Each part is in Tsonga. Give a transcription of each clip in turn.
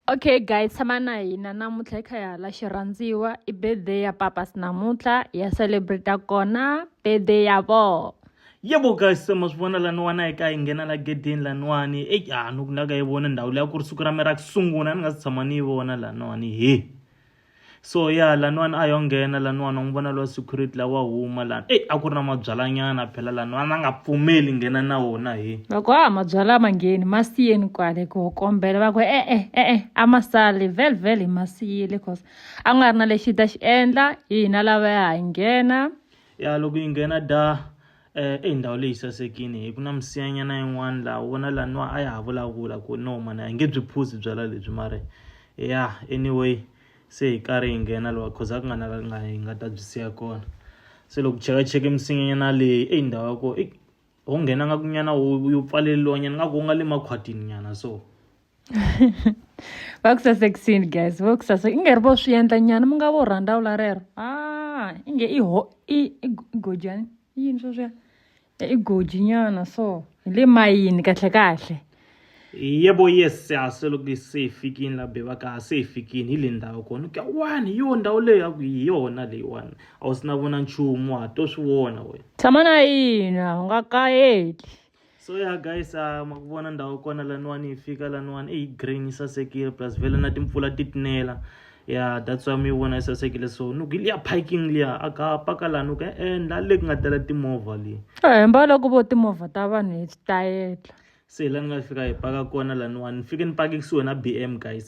okay guys tshama na hina namuntlha hi kha hi hala xirhandziwa i birthday ya papas namuntlha ya celebrate kona birthday ya vona yebo guys se ma swi vona laniwani a yi ka yi nghena la gedeni laniwani e a ni ku na ka yi vona ndhawu leyi a ku ri siku ra mina ra ku sungula ni nga si tshama ni yi vona laniwani he so ya yeah, laniwani a yo nghena laniwani u n'wi vona lowa security lawa huma lani eyi a ku ri na mabyalanyana phela laniwani a nga pfumeli nghena na wona he loko a mabyala ma ngheni ma siyeni kwale ku kombela va ku e-e e-e a ma sali vel vel hi ma siyile cause a ku nga ri na lexi ta xi endla hina lava ya ha nghena ya loko yi nghena da Eh, eyi ndhawu leyi sasekini hi ku na misinyanyana yin'wana laha u vona laha niwa a ya ha vulavula ku no mana hi nge byi phuzi byala lebyi mare ya anyway se hi karhi hi nghena lowa cause a ku nga na la nga hi nga ta byi siya kona se loko chekacheke misinyanyana leyi eyi ndhawu ya kona ho nghena nga kunyana yo pfaleliwanyana nga ku u nga le makhwatini nyana so va ku sasekisini guys va ku saseka i nge ri vo swi endla nyana mi nga vo rhandza wula rero a ah, i nge i ho i i gojani i yini sweswiya i goji nyana so hi le mayini kahle kahle yebo yes siyase loko se hi fikini la bebaka se hi fikini hi le ndhawu kona ku ya wani yo ndhawu leyi ya ku hi yona leyiwani a wu si na vona nchumu wa ha to swi vona wena tshama na yina u nga kayeli so ya guys uh, ma ku vona ndhawu kona laniwani yi fika laniwani i green yi sasekile plus vele na timpfula ti tinela ya that's why mi yi vona yi sasekile so ni ku liya parking liya a ka paka laha ni ku endla le ku nga tela timovha leyi hemba loko vo timovha ta vanhu hi tayetla se la ni nga fika hi paka kona laniwani ni fike ni pake kusuhi na b m guys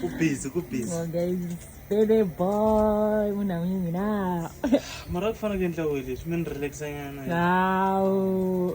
kubhizi kubhizi sele boy munhu amunye mina mara ku fanele ku endla we leswi mi ni relaxa nyana hawu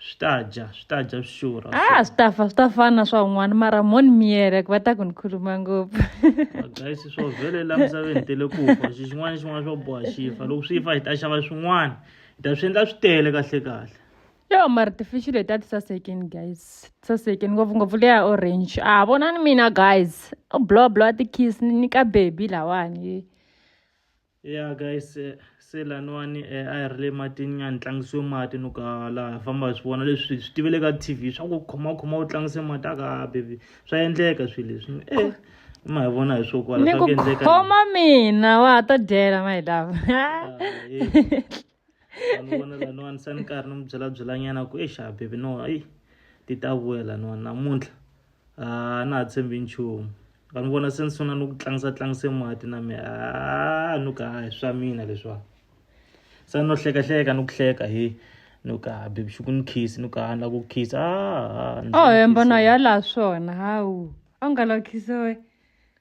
swi ta dya swi ta dya swi xurha a ah, swi ta fa swi ta fana swa un'wana mara moni miyere ku va ta ku ni khuluma ngopfu guys swo vhele la misaveni tele ku fa xi xin'wana xin'wana swo boha xi fa loko swi fa hi ta xava swin'wana hi ta swi endla swi tele kahle kahle yo mara tifishi leti a ti sasekeni guys ti sasekeni ngopfungopfu leya orange a ah, vona ni mina guys o blow blow a ti-kiss ni ka baby lawani ya guys eh, se laniwani eh, a hi ri le matini nyani tlangisiwe mati ni ka laha famba hi swi vona leswi swi tivele ka t v swa ku khomakhoma u tlangise mati a ka bebi swa endleka swilo leswi e ma hi vona hi swo kwala swa ku endleka khoma mina wa ha ta dyela my love ah, vanhu vona laniwani se ni karhi ni mi byela byelanyana ku exa bebi no eyi ti ta vuya laniwani namuntlha a na ha tshembi nchumu vanhu vona se ni sungula ni ku tlangisa tlangise mati na mi a ni ka hi swa mina leswiwani se no hlekahleka ni ku hleka hi ni ka bebi xi ku ni khisi ni ka na ku khisa a a hemba na ya laha swona hawu a wu nga lakhisiwe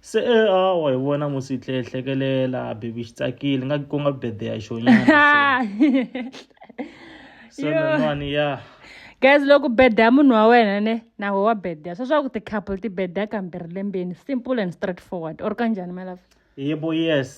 se e hawa hi vona mo swi tlhe hlekelela baby xi tsakile nga ku nga birthday ya xona so nan'wani ya guys loko birthday ya munhu wa wena ne na ho wa birthday swa swa ku ti-couple ti birthday kambirhi lembeni simple and straightforward or kanjhani malava yebo yes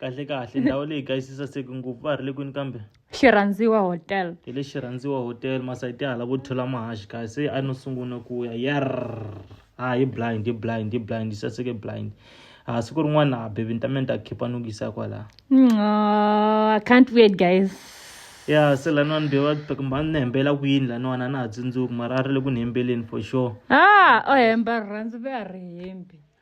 kahle kahle ndhawu leyi guys yi saseke ngopfu va ha ri le kwini kambe xirhandziwa hotel hi le xirhandziwa hotel masayiti hala vo thola mahaxi kahle se a no sungula ku ya yar ha hi blind hi blind hi blind yi saseke blind ha siku rin'wana ha bebi ni ta mina ta khipa ni ku yisa kwalaha i can't wait guys ya se laniwani bewa kumba ni hembela ku yini laniwani a na ha tsundzuki mara a ri le ku ni hembeleni for sure ah o hemba rirhandzu ve a ri hembi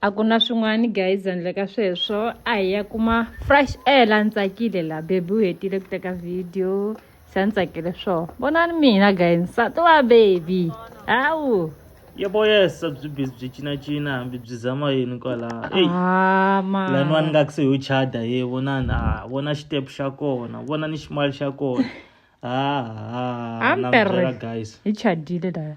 a ku na swin'wana guys handle ka sweswo a hi ya kuma fresh air la ni tsakile la bebi u hetile ku teka video se a ni tsakile swo vonani mina guys nsati wa bebi hawu yebo yesa byi busy byi cinacina hambi byi zama yini kwala lani wani nga ku se yo chada ye vonani a ah, vona xitepu xa kona vona ni ximali xa kona haha ah, ah, guys hi chadile laya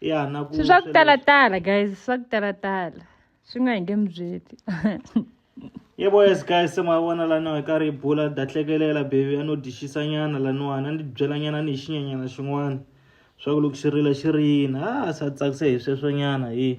ya na ku se swa ku talatala guys swa ku talatala swi nga hi nge mi byeli ye boys guys se ma vona laniwa hi karhi hi bula da hlekelela bebi a no dixisa nyana laniwani a ni byela nyana ni hi xinyanyana xin'wana swa ku loko xi rila xi rina a sa tsakise hi sweswo nyana hi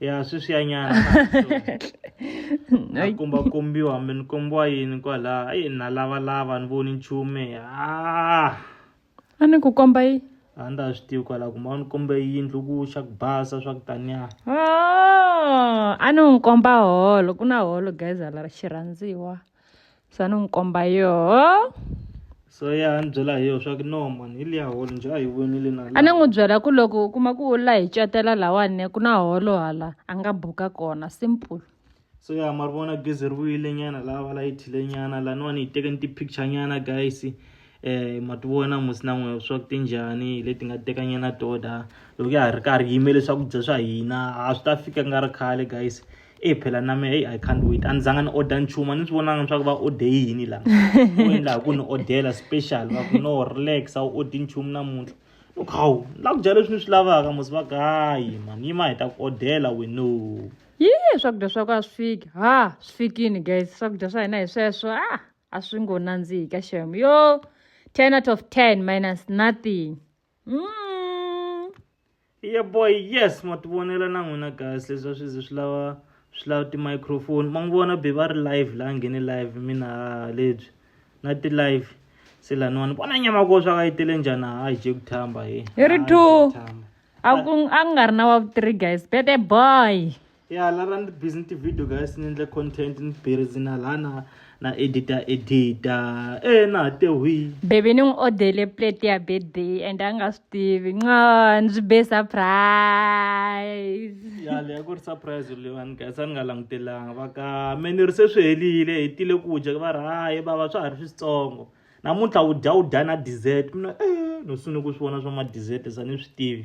ya sweswiyanyana na komba kombiwa hambi ni kombiwa yini kwalaha ayi na lavalava ni voni nchume a a ni ku komba yi a ni ta swi tivi kwalaha kumbe a ni kombe yindlu ku xa ku basa swa ku taniya a ni n'wi komba holo ku na holo guys hala xirhandziwa sa ni n'wi komba yoho so ya ni byela hi yoho swa ku no mani hi liya holo njhe a hi vonile na a ni n'wi byela ku loko u kuma ku u la hi catela lawani ku na holo hala a nga buka kona simple so ya ma ri vona gezi ri vuyile nyana lava la yi thile nyana laniwani hi teke ni ti-picture nyana guys eh ma ti vona musi na n'we swa ku ti njhani hi leti nga tekanyana toda loko ya ha ri karhi yimele swakudya swa hina a swi ta fika nga ri khale guys e phela na me i can't wait a ni zanga ni order nchumu a ni swi vonanga swa ku va ode yini lama u endlaku ku ni odela special va ku no relax a wu odi nchumu namuntlha loko hawu ni la ku dya leswi ni swi lavaka musi va ku hayi mani yima hi ta ku odela weno yi swakudya swa ku a swi fiki ha swi fikini guys swakudya swa hina hi sweswo a ah! a swi ngo nandzihi ka xem yo 10 out of 10 minus nothing mm. yeah boy yes ma ti vonela na n'wina guys leswi a swi ze swi lava swi lava ti-microphone ma n'wi vona be va ri live la nghene live mina lebyi na ti-live se laniwani vona nyama ko swa ka yi tele njhani ha hi je ku thamba hi hi ri two a ku a ku nga ri na wa three guys bete boy ya la ra ni busy ti-video guys ni endle content ni busy na lana na edita edita e na ha tehuyi bebe ni n'wi odele plate ya birthday and a nga swi tivi nco ndzi be surprise ya leya ku ri surprise leyiwani guys a ni nga langutelanga va ka me ni ri se swi helile hi tile ku dya va ri hayi vava swa ha ri switsongo namuntlha u dya u dya na dessert mina e no sungule ku swi vona swa ma dessert sa ni swi tivi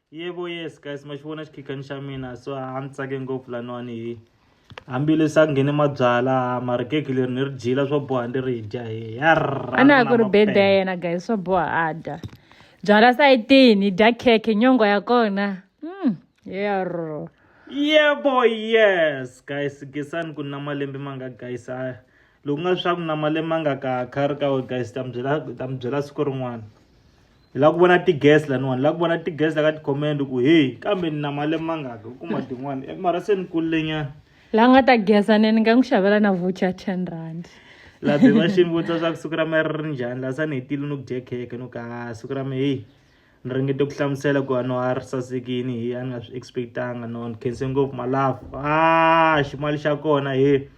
yebo yes guys ma xi vona xikhikani xa mina so a ni tsake ngopfu laniwani hi hambileswi a nghene mabyala mara keki leri ni ri dyila swo boha ndi ri dya hi a na ha ku ri bede ya yena guys swo boha a dya byala sayitini hi dya keke nyongo ya kona mm. yerro yebo yes guys gesani ku na malembe ma nga guys a loku nga swa ku na malembe ma nga ka kha ri ka we guys ta mi byela siku rin'wana hi lava ku vona ti-gas laniwani hi lava ku vona ti-gas la ka ti-comment ku heyi kambe ni na mali mangaka u kuma tin'wani eh, mara se ni kulilenyana la nga ta geza nene nga n'wi xavela na voucher ten rand laha be va xini vutisa swa ku siku ra me ri ri njhani laha sa ni hetile no ku dye kheke no ka siku ra me heyi ni ringete ku hlamusela ku ano a ri sasekini hi a ni nga swi expectanga no ni khense ngopfu malafu a ximali xa kona he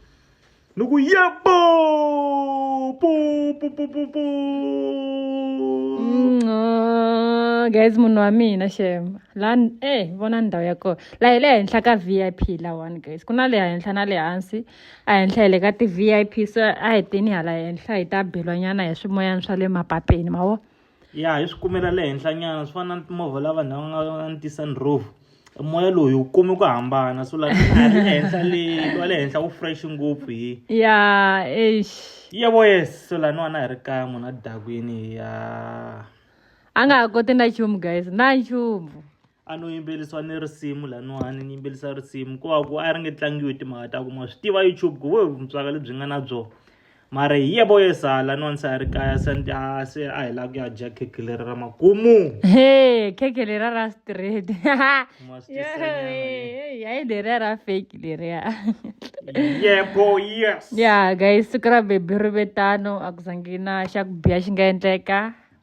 na ku yebo po po po po po Nco, guys munhu wa mina shem la n- eh vona ndhawu ya kona la hi le henhla ka vip lawani guys ku na le henhla na le hansi a henhla hi le ka ti-vip so a hi teni hala henhla hi ta belwanyana hi swimoyana swa le mapapeni ma vo ya hi swi kumela le henhlanyana swi fana na timovha la vanhu lava nga va ni ti-sunroof moya loyi wu kumi ku hambana so laha le henhla le wa le henhla wu fresh ngopfu hi ya eish yebo yes so laniwana hi ri kaya munhu a dakwini ya a nga ha koti na nchumu guys na nchumu a no yimbelisiwa ni risimu laniwani ni yimbelisa risimu ko va ku a ri nge tlangiwi timhaka ta ku ma swi tiva youtube ku vo vutswaka lebyi nga na byona mara hi ye vo yesa laniwani se a ri kaya se a se a hi lava ku ya dya khekhe leri ra makumu he khekhe lera ra straight hayi lera ra fake leriya yebo yes ya guys siku ra bebi ri vetano a ku zangi na xa ku biha xi nga endleka